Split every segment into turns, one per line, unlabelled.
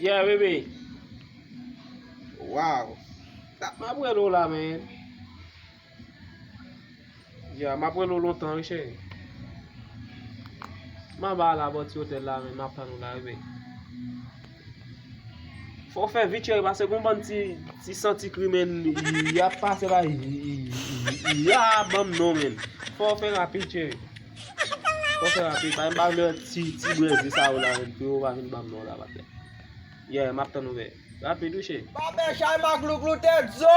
Yeah baby Wow Map rele w la men Yeah map rele w lontan wi cheri M anba la bò ti otèl la men map tann w la baby Fò w fè vit cheri pase gon bann ti santi krimen yap pase la ya banm non menn fò w fè rapid cheri fò w fè rapid pa banm lè ti brezil sa yo la menn pou yo pa vin banm non la patnè yeah map tann ou veye rapid wi cheri. Babè chay maglouglou
tèt zo.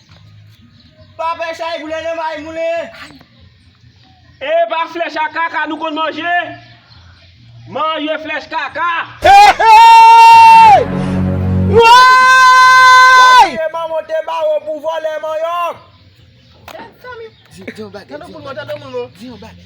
Pa pè chay boule nan may moule.
Epa flèch a kaka nou konn manje? Manje flèch kaka. Hehey!
Woyy! Wap touye manman w te ba ou pou vòlè manyòk. Di yon bagay, di yon bagay.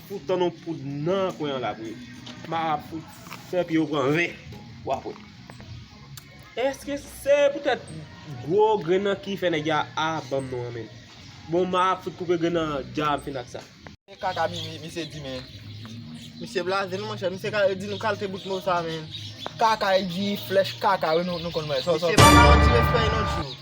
Pou tann yon poud nan kwen an la pou yo. Marabout fè pye yo pran ren. Wap wè. Eske se pou tèt gwo grenn nan ki fè nèg ya a banm non an menm. Bon map fout koupe grenn nan dja m fin ak sa. Se kaka
misye di men. Misye
blaze nou monchè misye ka di nou kalte bout mo sa men. Kaka e di
flèch kaka wi nou konn wè. Misye pa ka yon ti respè
yon lòt jou.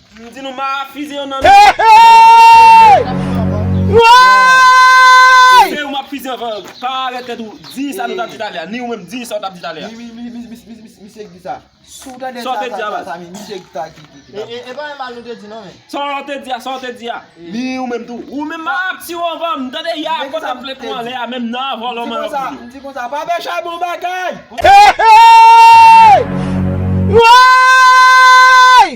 M di nou ma
fize yo nan men.
Fize yo ma fize yo.
Pa arete tèt ou. Di sa nou tap di talè a. Ni ou menm di sa ou tap di talè a. Misye
k di sa. Si w tande sa sa sa sa mi. Misye
k ta di.
E pa yon mal nou
te di non men. Sa ou te di a sa ou te di
a. Ni ou menm tou. Ou menm ma ap tire w anvan m. Tande ya a pote plent ou anlè a menm nan avan
lò man
yo fouye w. M
di
konsa
pa pè
chay bon bagay. Hey hey.
Woyy.